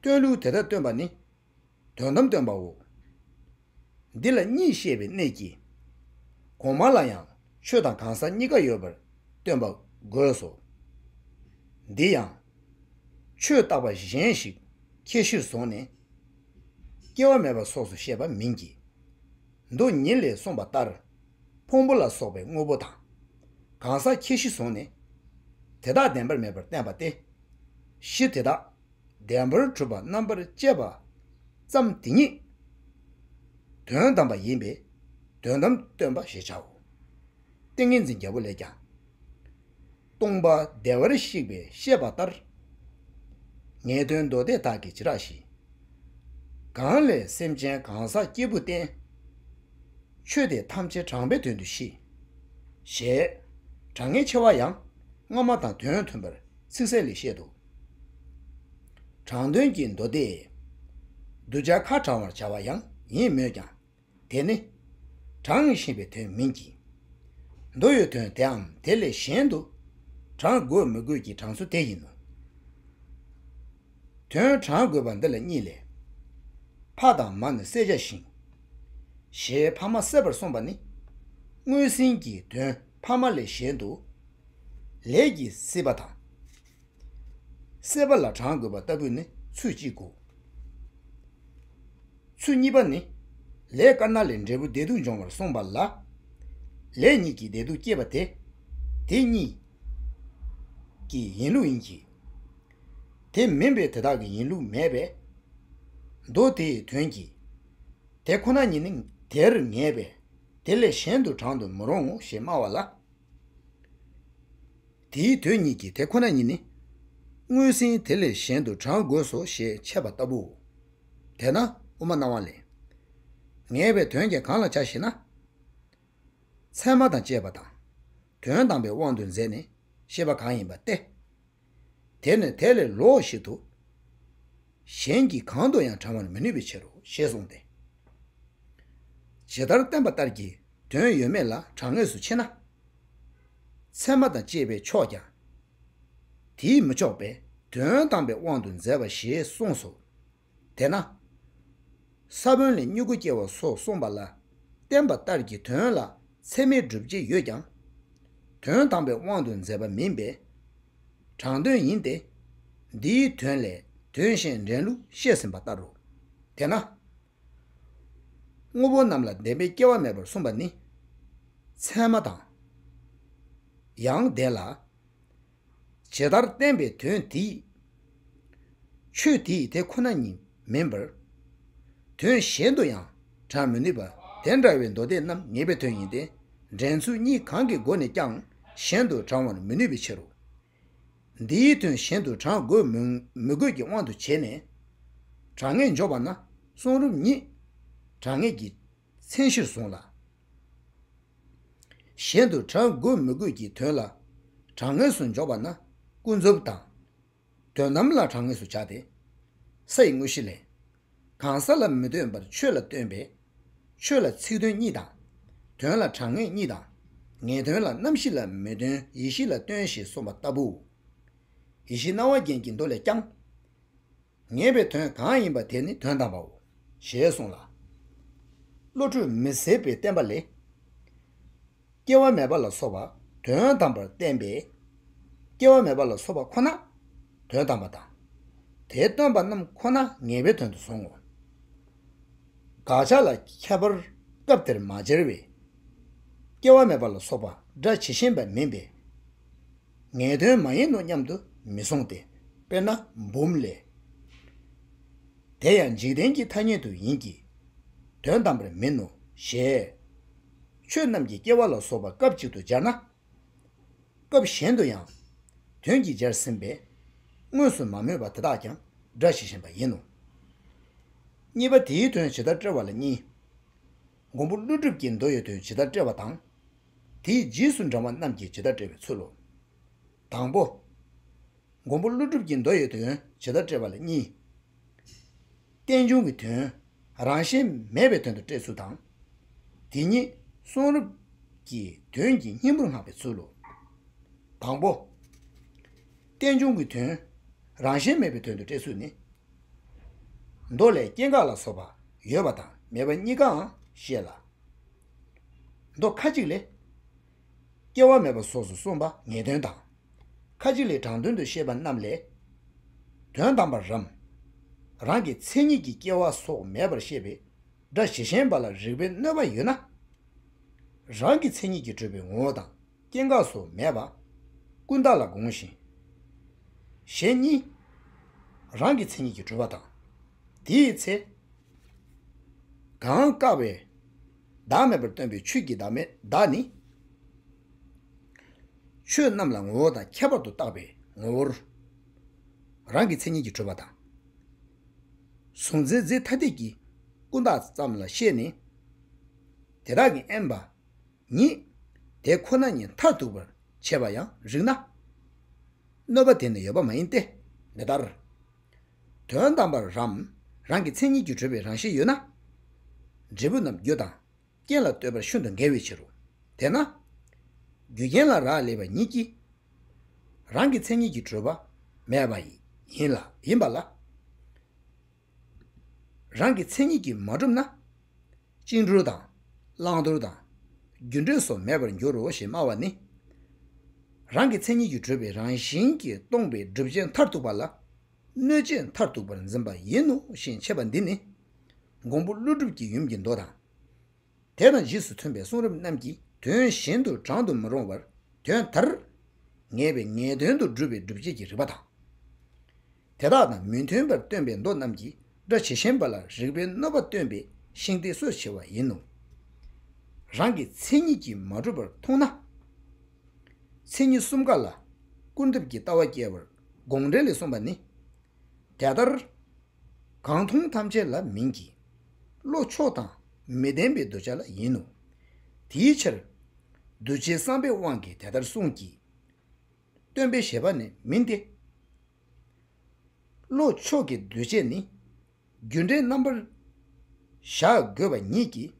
སྟོན་ལུགས་དེ་དག་སྟོན་པ་ནི། དོན་དམ་སྟོན་པའོ། འདི་ལ་གཉིས་ཤེས་པའི་གནད་ཀྱིས། གོང་མ་ལ་ཡང་ཆོས་དང་གང་ཟག་གཉིས་ཀ་ཡོད་པར་སྟོན་པ་དགོས་སོ། འདི་ཡང། ཆོས་བཏགས་པ་གཞན་ཞིག་ཁྱད་གཞིར་བཟུང་ནས། སྐྱེ་བ་མེད་པ་སོགས་སུ་བཤད་པ་མིན་གྱི། མདོ་ཉིད་ལས་གསུངས་པ་ལྟར། ཕུང་པོ་ལ་སོགས་པའི་དངོས་པོ་དང། གང་ཟག་ཁྱད་གཞི་བཟུང་ནས། དེ་དག་བདེན་པར་མེད་པར་བསྟན་པ་སྟེ། གཞི་དེ་དག་བདེན་པར་གྲུབ་པ་རྣམ་པར་དཔྱད་པ་ཙམ་དེ་ཉིད་དོན་དམ་པ་ཡིན་པས་དོན་དམ་སྟོན་པ་ཞེས་བྱའོ། ཏིང་ངེ་འཛིན་བརྒྱད་པོ་ལས་ཀྱང། སྟོང་པ་བདེ་བར་གཤེགས་པའི་བཤད་པ་ལྟར། ངེས་དོན་མདོ་སྡེ་དག་གིས་ཇི་རགས་བཞིན། གང་ལས་སེམས་ཅན་གང་ཟག་སྐྱེས་བུ་བསྟན། ཆོས་དེ་ཐམས་ཅད་དྲངས་པའི་དོན་དུ་ཤེས། ཞེས་དྲང་ངེས་ཆེ་བ་ཡང་སྔ་མ་དང་དོན་མཐུན་པར་ཚིག་གསལ་ལས་བཤད་དོ། དྲང་དོན་གྱི་མདོ་སྡེ། གདུལ་བྱ་ཁ་དྲང་བར་བྱ་བ་ཡང་ཡིན་མོད་ཀྱང། དེ་ནི། དྲང་བཞིན་པའི་དོན་མིན་གྱི། མདོ་ཡོད་དོན་དེའམ་དེ་ལས་གཞན་དུ། དྲང་དགོས་མི་དགོས་ཀྱི་དྲང་སྲོལ་དེ་ཡིན་ནོ། དོན་དྲང་དགོས་པ་འདི་ལ་གཉིས་ལས། ཕ་དང་མ་ནི་བསད་བྱ་ཞིང། ཞེས་ཕ་མ་བསད་པར་གསུངས་པ་ནི། དངོས་ཟིན་གྱི་དོན་ཕ་མ་ལས་གཞན་དུ། ལས་ཀྱིས་སྲིད་པ་དང། གསད་པ་ལ་དྲང་དགོས་པ་ལྟ་བུ་ནི་ཚུལ་གཅིག་གོ། ཚུལ་གཉིས་པ་ནི། ལས་དཀར་ནག་ལས་འབྲས་བུ་བདེ་སྡུག་འབྱུང་བར་གསུངས་པ་ལ། ལས་ཉིད་ཀྱིས་བདེ་སྡུག་བསྐྱེད་པ་དེ། དེ་གཉིས་ཀྱི་ཡིན་ལུགས་ཡིན་གྱི། དེ་མིན་པའི་དེ་དག་གི་ཡིན་ལུགས་མེད་པས། མདོ་དེའི་དོན་གྱིས། དེ་ཁོ་ན་ཉིད་ནི་དེར་ངེས་པས་དེ་ལས་གཞན་དུ་དྲང་དུ་མི་རུང་ངོ་ཞེས་སྨྲ་བ་ལ། དེའི་དོན་ཉིད་ཀྱིས་དེ་ཁོ་ན་ཉིད་ནི། སྔོན་ཟིན་དེ་ལས་གཞན་དུ་བགྲང་དགོས་སོ་ཞེས་འཆད་པ་ལྟ་བུའོ། དེས་ན་དབུ་མ་སྣང་བ་ལས། ངེས་པའི་དོན་གྱིས་གང་ལ་བྱ་ཞེ་ན། ཚད་མ་དང་བཅས་པ་དང། དོན་དམ་པའི་དབང་དུ་མཛད་ནས་ཤེས་པ་གང་ཡིན་པ་སྟེ། དེ་ནི་དེ་ལས་ལོགས་ཤིག་ཏུ། གཞན་གྱིས་གང་དུ་ཡང་དྲང་བར་མི་ནུས་པའི་ཕྱིར་རོ་ཞེས་གསུངས་ཏེ། ཇི་ལྟར་བསྟན་པ་ལྟར་གྱི་དོན་ཡོད་མེད་ལ་དྲང་ངེས་སུ་ཕྱེ་ན། ཚད་མ་དང་བཅས་པས་ཆོག་ཀྱང། དེས་མི་ཆོག་པས་དོན་དམ་པའི་དབང་དུ་མཛད་པ་ཞེས་གསུངས་སོ། དེས་ན། ས་བོན་ལས་མྱུ་གུ་སྐྱེ་བ་སོགས་གསུངས་པ་ལ་བསྟན་པ་ལྟར་གྱི་དོན་ལ་ཚད་མའི་སྒྲུབ་བྱེད་ཡོད་ཀྱང། དོན་དམ་པའི་དབང་དུ་མཛད་པ་མིན་པས། དྲང་དོན་ཡིན་ཏེ། འདིའི་དོན་ལས་དོན་གཞན་འདྲེན་ལུགས་བཤད་ཟིན་པ་ལྟར་རོ། དེས་ན། དངོས་པོ་རྣམས་ལ་བདེན་པའི་སྐྱེ་བ་མེད་པར་གསུངས་པ་ནི། ཚད་མ་དང། ཡང་ལྡན་ལ། ཇི་ལྟར་བསྟན་པའི་དོན་དེ་ཡིས། ཆོས་དེ་ཡི་དེ་ཁོ་ན་ཉིད། མིན་པར། དོན་གཞན་དུ་ཡང་དྲངས་མི་ནུས་པ་དེ་འདྲ་བའི་མདོ་སྡེ་རྣམས་ངེས་པའི་དོན་ཡིན་ཏེ། འགྲན་ཚུལ་གཉིས་གང་གི་སྒོ་ནས་ཀྱང་གཞན་དུ་དྲང་བར་མི་ནུས་པའི་ཕྱིར་རོ། འདིའི་དོན་གཞན་དུ་དྲང་དགོས་མི་དགོས་ཀྱི་དབང་དུ་བྱས་ནས། དྲང་ངེས་འཇོག་པ་ན་གསུང་རབ་ཉིད་དྲང་ངེས་ཀྱི་མཚན་གཞིར་བཟུང་ལ། གཞན་དུ་དྲང་དགོས་མི་དགོས་ཀྱི་དོན་ལ་དྲང་ངེས་སུ་འཇོག་པ་ན་ཀུན་རྫོབ་དང། དོན་དམ་ལ་གྲངས་ངེས་སུ་བྱ་སྟེ། ས་ཡི་དངོས་གཞི་ལས། གང་ས་ལ་མི་ལྟོས་པར་ཆོས་ལ་ལྟོས་པས། ཆོས་ལ་ཚིག་དོན་གཉིས་དང། དོན་ལ་གྲངས་ངེས་གཉིས་དང། ངེས་དོན་ལ་རྣམ་བཞི་ལ་མི་ལྟོས་ཡེ་ཤེས་ལ་ལྟོས་ཞེས་གསུངས་པ་ལྟ་བུའོ། ཡེ་ཤེས་སྣང་བ་རྒྱན་གྱི་མདོ་ལས་ཀྱང། ངེས་པའི་དོན་གང་ཡིན་པ་དེ་ནི་དོན་དམ་པའོ། ཞེས་གསུངས་ལ། བློ་གྲོས་མི་ཟད་པའི་བསྟན་པ་ལས། སྐྱེ་བ་མེད་པ་ལ་སོགས་པ་དོན་དམ་པར་བསྟན་པས། སྐྱེ་བ་མེད་པ་ལ་སོགས་པ་ཁོ་ན་དོན་དམ་པ་དང། དེ་སྟོན་པ་རྣམས་ཁོ་ན་ངེས་པའི་དོན་དུ་བཟུང་ངོ། དགག་བྱ་ལ་ཁྱད་པར་སྐབས་དེར་མ་སྦྱར་བས། སྐྱེ་བ་མེད་པ་ལ་སོགས་པ་སྒྲ་ཇི་བཞིན་པ་མིན་པས་ངེས་དོན་མ་ཡིན་ནོ་སྙམ་དུ་མི་གཟུང་སྟེ། དཔེར་ན་འབུམ་ལས། དེ་ཡང་འཇིག་རྟེན་གྱི་ཐ་སྙད་དུ་ཡིན་གྱི། དོན་དམ་པར་མིན་ནོ་ཞེས། ཆོས་རྣམས་ཀྱི་སྐྱེ་བ་ལ་སོགས་པ་སྐབས་གཅིག་ཏུ་སྦྱར་ན། སྐབས་གཞན་དུ་ཡང། དོན་གྱིས་སྦྱར་ཟིན་པས། དངོས་སུ་མ་སྨོས་པ་དེ་དག་ཀྱང་སྒྲ་ཇི་བཞིན་པ་ཡིན་ནོ། གཉིས་པ་དེའི་དོན་ཇི་ལྟར་བཀྲལ་བ་ལ་གཉིས། མགོན་པོ་ཀླུ་སྒྲུབ་ཀྱིས་མདོ་ཡི་དོན་ཇི་ལྟར་བཀྲལ་བ་དང། དེའི་རྗེས་སུ་འབྲང་བ་རྣམས་ཀྱིས་ཇི་ལྟར་བཀྲལ་བའི་ཚུལ་ལོ། དང་པོ། མགོན་པོ་ཀླུ་སྒྲུབ་ཀྱིས་མདོ་ཡི་དོན་ཇི་ལྟར་བཀྲལ་བ་ལ་གཉིས། རྟེན་འབྱུང་གི་དོན། རང་བཞིན་མེད་པའི་དོན་དུ་བཀྲལ་ཚུལ་དང། དེ་ཉིད་གསུང་རབ་ཀྱི་དོན་གྱི་སྙིང་པོར་བསྔགས་པའི་ཚུལ་ལོ། དང་པོ། རྟེན་འབྱུང་གི་དོན། རང་བཞིན་མེད་པའི་དོན་དུ་བཀྲལ་ཚུལ་ནི། མདོ་ལས་སྐྱེ་འགག་ལ་སོགས་པ་ཡོད་པ་དང་མེད་པ་གཉིས་ཀའང་བཤད་ལ། མདོ་ཁ་ཅིག་ལས། སྐྱེ་བ་མེད་པ་སོགས་སུ་གསུངས་པ་ངེས་དོན་དང། ཁ་ཅིག་ལས་དྲང་དོན་དུ་བཤད་པ་རྣམས་ལས། དོན་དམ་པར་རམ། རང་གི་མཚན་ཉིད་ཀྱིས་སྐྱེ་བ་སོགས་མེད་པར་བཤད་པའི་སྒྲ་གཞི་ཤན་པ་ལ་རིགས་པའི་གནོད་པ་ཡོད་ན། རང་གི་མཚན་ཉིད་ཀྱིས་གྲུབ་པའི་ངོ་བོ་དང་སྐྱེ་འགག་སོགས་མེད་པ། ཀུན་བརྟགས་ལ་དགོངས་ཤིང། གཞན་གཉིས། རང་གི་མཚན་ཉིད་ཀྱིས་གྲུབ་པ་དང། དེའི་ཚེ། གང་བཀག་པའི། བདག་མེད་པར་སྟོན་པའི་ཆོས་ཀྱི་བདག་མེད་བདག་ནི། ཆོས་རྣམས་ལ་ངོ་བོ་དང་ཁྱད་པར་དུ་བཏགས་པའི་ངོ་བོར། རང་གི་མཚན་ཉིད་ཀྱིས་གྲོལ་བ་དང། གཟུང་འཛིན་རྫས་ཐ་དད་ཀྱི་ཀུན་བཏགས་ཙམ་ལ་ཤེས་ནས། དེ་དག་གི་དབེན་པ་ཉིད་དེ་ཁོ་ན་ཉིད་མཐར་ཐུག་པར་བྱེད་པར་ཡང་རིགས་ན། གནོད་པ་དེ་ནི་ཡོད་པ་མ་ཡིན་ཏེ། འདི་ལྟར། དོན་དམ་པར་རམ། རང་གི་མཚན་ཉིད་ཀྱིས་གྲོལ་བའི་རང་བཞིན་ཡོད་ན། འབྲས་བུ་རྣམས་རྒྱུ་དང། རྐྱེན་ལ་ལྟོས་པར་ཤུན་དང་འགལ་བའི་ཕྱིར་རོ། དེས་ན། རྒྱུ་རྐྱེན་ལ་རག་ལས་པ་ཉིད་ཀྱིས། རང་གི་མཚན་ཉིད་ཀྱིས་གྲོལ་བ། མེད་པ། ཡིན་པ་ལ། རང་གི་མཚན་ཉིད་ཀྱིས་མ་གྲུབ་ན། བཅིངས་འགྲོལ་དང། བླང་དོར་དང། རྒྱུ་འབྲས་སོགས་མེད་པར་འགྱུར་རོ་ཞེས་སྨྲ་བ་ནི། རང་གི་མཚན་ཉིད་ཀྱིས་གྲོལ་བའི་རང་བཞིན་གྱིས་སྟོང་པའི་བསྒྲུབ་བྱའི་མཐར་ཐུག་པ་ལ། གནོད་བྱའི་མཐར་ཐུག་པར་འཛིན་པ་ཡིན་ནོ་ཞེས་འཆད་པ་འདི་ནི། འགོང་པོ་ཀླུ་སྒྲུབ་ཀྱི་ཡུམ་གྱི་མདོ་དང། དེ་དང་རྗེས་སུ་མཐུན་པའི་གསུང་རབ་རྣམས་ཀྱི་དོན་བཞིན་དུ་བགྲང་དུ་མི་རུང་བར་དོན་དར། ངེས་པའི་ངེས་དོན་དུ་སྒྲུབ་པའི་སྒྲུབ་བྱེད་ཀྱི་རིགས་པ་དང། དེ་དག་དང་མི་མཐུན་པར་སྟོན་པའི་མདོ་རྣམས་ཀྱིས་སྒྲ་ཇི་བཞིན་པ་ལ་རིགས་པའི་གནོད་པ་སྟོན་པའི་ཤིང་རྟའི་སྲོལ་ཕྱེ་བ་ཡིན་ནོ། རང་གི་མཚན་ཉིད་ཀྱིས་མ་གྲུབ་པར་མཐོང་ན། མཚན་ཉིད་གསུམ་ཀ་ལ་ཀུན་རྫོབ་ཀྱི་ལྟ་བ་སྐྱེ་བར་དགོངས་འགྲེལ་ལས་གསུངས་པ་ནི། དེ་ལྟར་གང་མཐོང་ཐམས་ཅད་ལ་མིན་གྱི། བློ་ཕྱོགས་དང་མི་ལྡན་པའི་གདུལ་བྱ་ལ་ཡིན་ནོ། དེའི་ཕྱིར། གདུལ་བྱའི་བསམ་པའི་དབང་གིས་དེ་ལྟར་གསུངས་ཀྱི། སྟོན་པའི་བཞེད་པ་ནི་མིན་ཏེ། བློ་མཆོག་གི་འདུས་བྱས་ནི། རྒྱུ་འབྲས་རྣམ་པར་གཞག་དགོས་པ་ཉིད་ཀྱིས་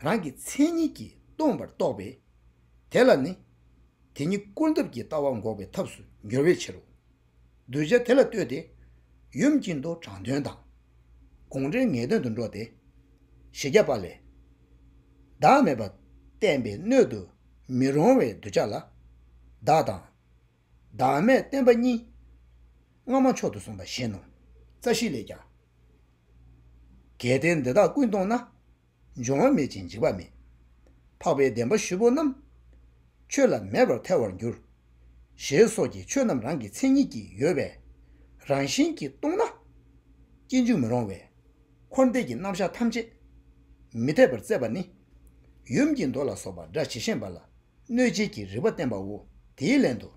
རང་གི་མཚན་ཉིད་ཀྱིས་སྟོང་པར་རྟོགས་པས། དེ་ལ་ནི་དེ་ཉིད་བསྐུར་འདེབས་ཀྱི་ལྟ་བ་འགོག་པའི་ཐབས་སུ་འགྱུར་བའི་ཕྱིར་རོ། གདུལ་བྱ་དེ་ལ་ལྟོས་ཏེ། ཡུམ་གྱི་མདོ་དྲང་དོན་དང། དགོངས་འགྲེལ་ངེས་དོན་དུ་འགྲོ་སྟེ། བཞི་བརྒྱ་པ་ལས། བདག་མེད་པ་བསྟན་པའི་སྣོད་དུ་མི་རུང་བའི་གདུལ་བྱ་ལ། བདག་དང། བདག་མེད་བསྟན་པ་གཉིས། སྔ་མ་མཆོག་ཏུ་གསུངས་པ་བཞིན་ནོ། རྩ་བཞི་ལས་ཀྱང། གལ་ཏེ་འདི་དག་ཀུན་གཏོང་ན། འབྱུང་བ་མེད་ཅིང་འཇིག་པ་མེད། འཕགས་པའི་བདེན་པ་བཞི་པོ་རྣམས། ཆོས་ལ་མེད་པར་ཐལ་བར་འགྱུར། ཞེས་སོགས་ཀྱིས་ཆོས་རྣམས་རང་གི་མཚན་ཉིད་ཀྱིས་ཡོད་པས་རང་བཞིན་གྱིས་སྟོང་ན། སྐྱེ་འཇིག་མི་རུང་བས། འཁོར་འདས་ཀྱི་རྣམ་གཞག་ཐམས་ཅད་མི་འཐད་པར་བཙལ་བ་ནི། ཡུམ་གྱི་མདོ་ལ་སོགས་པ་སྒྲ་ཇི་བཞིན་པ་ལ་གནོད་བྱེད་ཀྱི་རིག་པ་བསྟན་པའོ། དེའི་ལན་དུ།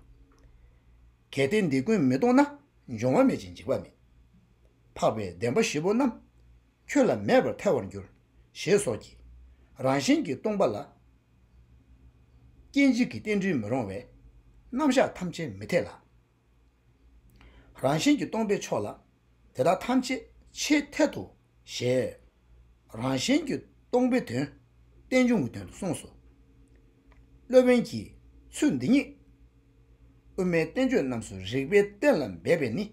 གལ་ཏེ་འདི་ཀུན་མི་རྟོག་ན་འབྱུང་བ་མེད་ཅིང་འཇིག་པ་མེད། འཕགས་པའི་བདེན་པ་བཞི་པོ་རྣམས་ཁྱོད་ལ་མེད་པར་ཐལ་བར་འགྱུར། ཞེས་སོགས་ཀྱིས་རང་བཞིན་གྱིས་སྟོང་པ་ལ། སྐྱེ་འཇིག་གི་རྟེན་འབྲེལ་མི་རུང་བས་རྣམ་གཞག་ཐམས་ཅད་མི་འཐད་ལ། རང་བཞིན་གྱིས་སྟོང་པའི་ཕྱོགས་ལ། དེ་དག་ཐམས་ཅད་ཆེས་འཐད་དོ་ཞེས། རང་བཞིན་གྱིས་སྟོང་པའི་དོན། རྟེན་འབྱུང་གི་དོན་དུ་གསུངས་སོ། སློབ་དཔོན་གྱིས་ཚུལ་འདི་ཉིད། དབུ་མའི་བསྟན་བཅོས་རྣམས་སུ་རིགས་པའི་གཏན་ལ་འབེབས་པས་ནི།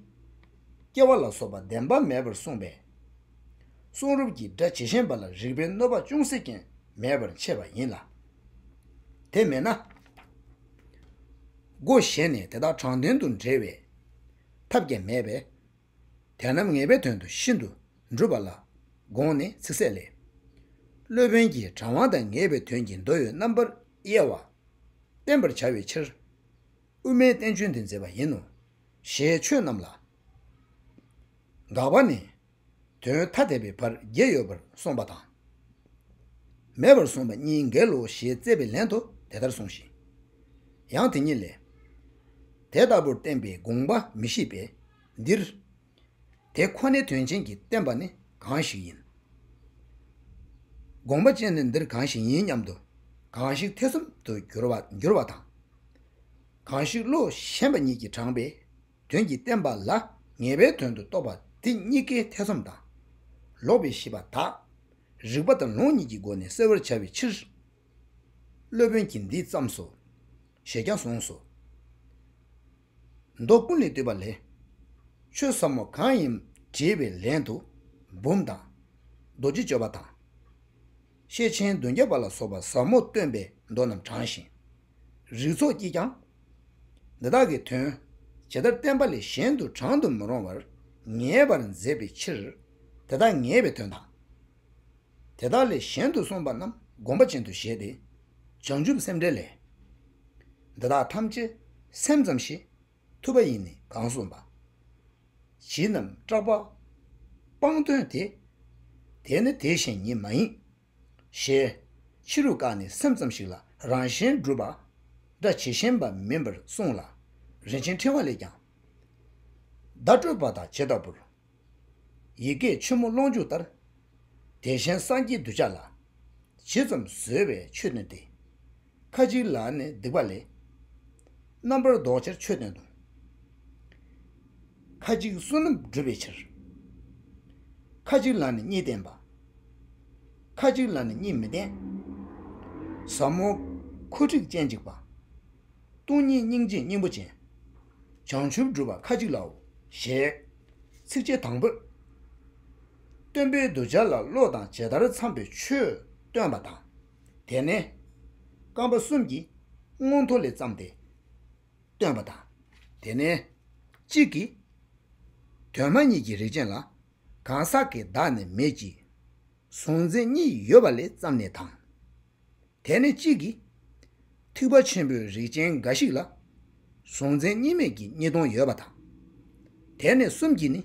སྐྱེ་བ་ལ་སོགས་པ་བདེན་པ་མེད་པར་གསུངས་པས། གསུང་རབ་ཀྱི་སྒྲ་ཇི་བཞིན་པ་ལ་རིགས་པའི་གནོད་པ་ཅུང་ཟད་ཀྱང་མེད་པར་འཆད་པ་ཡིན་ལ། དེ་མེད་ན། སྒོ་གཞན་ནས་དེ་དག་དྲང་དོན་དུ་འབྲེལ་བའི་ཐབས་ཀྱང་མེད་པས། དེ་རྣམས་ངེས་པའི་དོན་དུ་ཤིན་ཏུ་འགྲུབ་པ་ལ་དགོངས་ནས་ཚིག་གསལ་ལས། སློབ་དཔོན་གྱིས་དྲང་བ་དང་ངེས་པའི་དོན་གྱི་མདོ་ཡོད་རྣམ་པར་དབྱེ་བ་བསྟན་པར་བྱ་བའི་ཕྱིར། དབུ་མའི་བསྟན་བཅོས་འདི་མཛད་པ་ཡིན་ནོ། ཞེས་ཆོས་རྣམས་ལ་དགག་པ་ནི། དོན་ཐ་དད་པའི་བར་བརྒྱད་ཡོད་པར་གསུངས་པ་དང། མེད་པར་གསུངས་པ་གཉིས་འགལ་ལོ་ཞེས་བརྩད་པའི་ལན་དུ་དེ་ལྟར་གསུངས་ཤིང། ཡང་དེ་ཉིད་ལས། དེ་ལྟ་བུར་བསྟན་པའི་དགོངས་པ་མི་ཤེས་པས་འདིར། དེ་ཁོ་ནའི་དོན་ཅན་གྱིས་བསྟན་པ་ནི་གང་ཞིག་ཡིན། དགོངས་པ་ཅན་ནི་འདིར་གང་ཞིག་ཡིན་སྙམ་དུ་གང་ཞིག་ཐེ་ཚོམ་དུ་འགྱུར་བ་དང། གང་ཞིག་བློ་ཞན་པ་ཉིད་ཀྱིས་དྲངས་པའི་དོན་གྱིས་བསྟན་པ་ལ་ངེས་པའི་དོན་དུ་རྟོགས་པ་འདི་གཉིས་ཀའི་ཐེ་ཚོམ་དང། ལོག་པའི་ཤེས་པ་དག། རིག་པ་དང་ལུང་གཉིས་ཀྱི་སྒོ་ནས་སེལ་བར་བྱ་བའི་ཕྱིར། སློབ་དཔོན་གྱིས་འདི་བརྩམས་སོ། ཞེས་ཀྱང་གསུངས་སོ། མདོ་ཀུན་ལས་བཏུས་པ་ལས། ཆོས་ཟབ་མོ་གང་ཡིན་དྲིས་པའི་ལན་དུ། འབུམ་དང། རྡོ་རྗེ་སྤྱོད་པ་དང། ཤེས་ཆེན་བདུན་བརྒྱ་པ་ལ་སོགས་པ་ཟབ་མོ་སྟོན་པའི་མདོ་རྣམས་དྲངས་ཤིང། རིགས་ཚོགས་ཀྱིས་ཀྱང། འདི་དག་གི་དོན་ཇི་ལྟར་བསྟན་པ་ལས་གཞན་དུ་དྲང་དུ་མི་རུང་བར་ངེས་པར་མཛད་པའི་ཕྱིར། དེ་དག་ངེས་པའི་དོན་དང། དེ་དག་ལས་གཞན་དུ་གསུངས་པ་རྣམས་བསྒོམ་པ་ཅན་དུ་བཞེད་དེ། བྱང་ཆུབ་སེམས་འགྲེལ་ལས། འདི་དག་ཐམས་ཅད་སེམས་ཙམ་ཞིག་ཐུབ་པ་ཡིན་ནི་གང་གསུངས་པ། བྱིས་རྣམས་སྐྲག་པ། སྤངས་དོན་དེ། དེ་ནི་དེ་བཞིན་ཉིད་མ་ཡིན། ཞེས། ཕྱི་རུ་བཀག་ནས་སེམས་ཙམ་ཞིག་ལ་རང་གཞན་བསྒྲུབ་པ། སྒྲ་ཇི་བཞིན་པ་མིན་པར་གསུངས་ལ། རིན་ཆེན་ཕྲེང་བ་ལས་ཀྱང། བརྡ་སྤྲོད་པ་དང་བྱེད་ལྟ་བུར། ཡི་གེ་ཆེན་མོ་ཀློང་འཇུག་ལྟར། དེ་བཞིན་སངས་རྒྱས་གདུལ་བྱ་ལ། ཇི་ཙམ་བཟོད་པའི་ཆོས་སྟོན་ཏེ། ཁ་ཅིག་ལ་ནི་སྡིག་པ་ལས། རྣམ་པར་བཟློག་ཕྱིར་ཆོས་སྟོན་ཏོ། ཁ་ཅིག་བསོད་ནམས་བསྒྲུབ་པའི་ཕྱིར། ཁ་ཅིག་ལ་ནི་གཉིས་བསྟན་པ། ཁ་ཅིག་ལ་ནི་གཉིས་མི་བསྟན། ཟབ་མོ་འཁོར་འཁྲིག་སྤྱན་གཅིག་པ། སྟོང་ཉིད་སྙིང་རྗེ་སྙིང་པོ་ཅན། བྱང་ཆུབ་བསྒྲུབ་པ་ཁ་ཅིག་ལའོ། ཞེས་ཚིགས་བཅད་དང་པོས། སྟོན་པའི་གདུལ་བྱ་ལ་བློ་དང་ཇི་ལྟར་འཚམས་པའི་ཆོས་སྟོན་པ་དང། དེ་ནས་རྐང་པ་གསུམ་གྱིས་སྔོན་མཐོ་ལས་བརྩམས་ཏེ་སྟོན་པ་དང། དེ་ནས་གཅིག་གིས་དོན་མ་གཉིས་ཀྱི་རིགས་ཅན་ལ་གང་ཟག་གི་བདག་ནི་མེད་ཀྱི། གཟུང་འཛིན་གཉིས་ཡོད་པ་ལས་བརྩམས་ནས་དང། དེ་ནས་གཅིག་གིས། ཐིགས་པ་ཆེན་པོའི་རིགས་ཅན་འགའ་ཞིག་ལ། གཟུང་འཛིན་གཉིས་མེད་ཀྱི་གཉིས་སྟོང་ཡོད་པ་དང། དེ་ནས་གསུམ་གྱིས་ནི།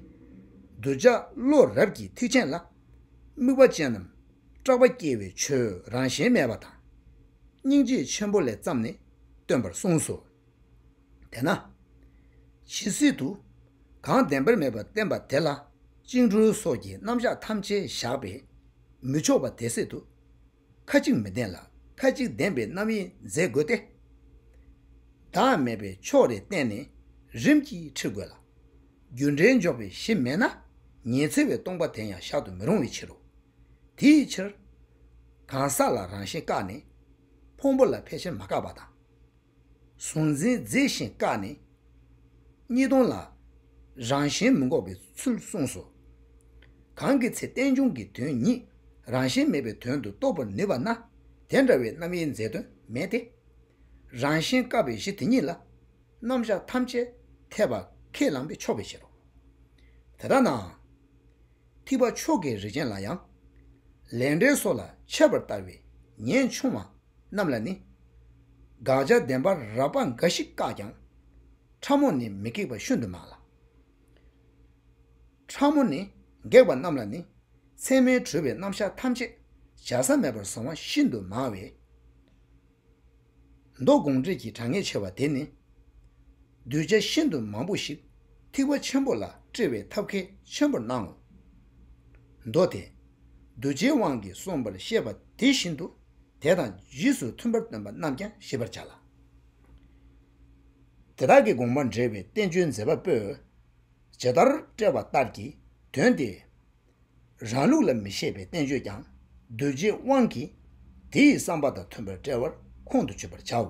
གདུལ་བྱ་བློ་རབ་ཀྱི་ཐིགས་ཆེན་ལ། དམིགས་པ་ཅན་ནམ་སྐྲག་པ་སྐྱེ་བའི་ཆོས་རང་གཞན་མེད་པ་དང། སྙིང་རྗེ་ཆེན་པོ་ལས་བརྩམས་ནས་སྟོན་པར་གསུངས་སོ། དེས་ན། ཇི་སྲིད་དུ། གང་བདེན་པར་མེད་པར་བསྟན་པ་དེ་ལ། བཅིངས་གྲོལ་སོགས་ཀྱི་རྣམ་གཞག་ཐམས་ཅད་བཞག་པས་མི་ཆོག་པ་དེ་སྲིད་དུ། ཁ་ཅིག་མི་ལྡན་ལ་ཁ་ཅིག་ལྡན་པའི་རྣམ་དབྱེ་མཛད་དགོས་ཏེ། བདག་མེད་པའི་ཕྱོགས་རེ་བསྟན་ནས་རིམ་གྱིས་ཁྲིད་དགོས་ལ། རྒྱུ་འབྲས་འཇོག་པའི་གཞི་མེད་ན་ཉེ་ཚེ་བའི་སྟོང་པ་དེ་ཡང་བཞག་ཏུ་མི་རུང་བའི་ཕྱིར་རོ། དེའི་ཕྱིར། གང་ཟག་ལ་རང་བཞིན་བཀག་ནས། ཕུང་པོ་ལ་ཕལ་ཆེར་མ་བཀག་པ་དང། གཟུང་འཛིན་རྫས་བཞིན་བཀག་ནས། གཉིས་སྟོང་ལ། རང་གཞན་མི་འགོག་པའི་ཚུལ་གསུངས་སོ། གང་གི་ཚེ་རྟེན་འབྱུང་གི་དོན་ཉིད་རང་བཞིན་མེད་པའི་དོན་དུ་རྟོགས་པར་ནུས་པ་ན་དེ་འདྲ་བའི་རྣམ་དབྱེའི་མཛད་དོན་མེད་དེ། རང་བཞིན་བཀག་པའི་གཞི་དེ་ཉིད་ལ། རྣམ་གཞག་ཐམས་ཅད་འཐད་པ་ཁས་བླངས་པས་ཆོག་པའི་ཕྱིར་རོ། དེ་ལྟ་ནའང། ཐིགས་པ་མཆོག་གི་རིགས་ཅན་ལ་ཡང། ལས་འབྲས་སོགས་ལ་འཆད་པར་ལྟ་བའི་ཉེན་ཆུང་བ། རྣམས་ལ་ནི། དགག་བྱ་བདེན་པར་རགས་པ་འགའ་ཞིག་བཀག་ཀྱང། ཕྲ་མོ་ནི་མི་འགེགས་པ་ཤུན་དུ་མང་ལ། ཕྲ་མོ་ནི་འགེགས་པ་རྣམས་ལ་ནི། མཚན་མའི་གྲོལ་བའི་རྣམ་གཞག་ཐམས་ཅད་བྱ་ས་མེད་པར་བཟུང་བ་ཤིན་ཏུ་མང་བས། མདོ་དགོངས་འགྲེལ་གྱི་གྲངས་ངེས་ཆེ་བ་དེ་ནི། གདུལ་བྱ་ཤིན་ཏུ་མང་པོ་ཞིག་ཐིགས་པ་ཆེན་པོ་ལ་བཀྲི་བའི་ཐབས་གལ་ཆེན་པོར་སྣང་ངོ། མདོ་དེས། གདུལ་བྱའི་དབང་གིས་གསུངས་པར་བཤད་པ་དེ་བཞིན་དུ། དེ་དང་རྗེས་སུ་མཐུན་པར་སྟོན་པ་རྣམས་ཀྱང་ཤེས་པར་བྱ་ལ། དེ་དག་གི་དགོངས་པ་འགྲེལ་བའི་བསྟན་བཅོས་མཛད་པ་པོས་ཇི་ལྟར་བཀྲལ་བ་ལྟར་གྱི་དོན་ཏེ། རང་ལུགས་ལ་མི་བཞེད་པའི་བསྟན་བཅོས་ཀྱང་གདུལ་བྱའི་དབང་གིས་དེ་ཡི་བསམ་པ་དང་མཐུན་པར་བཀྲལ་བར་ཁོང་དུ་ཆུད་པར་བྱའོ།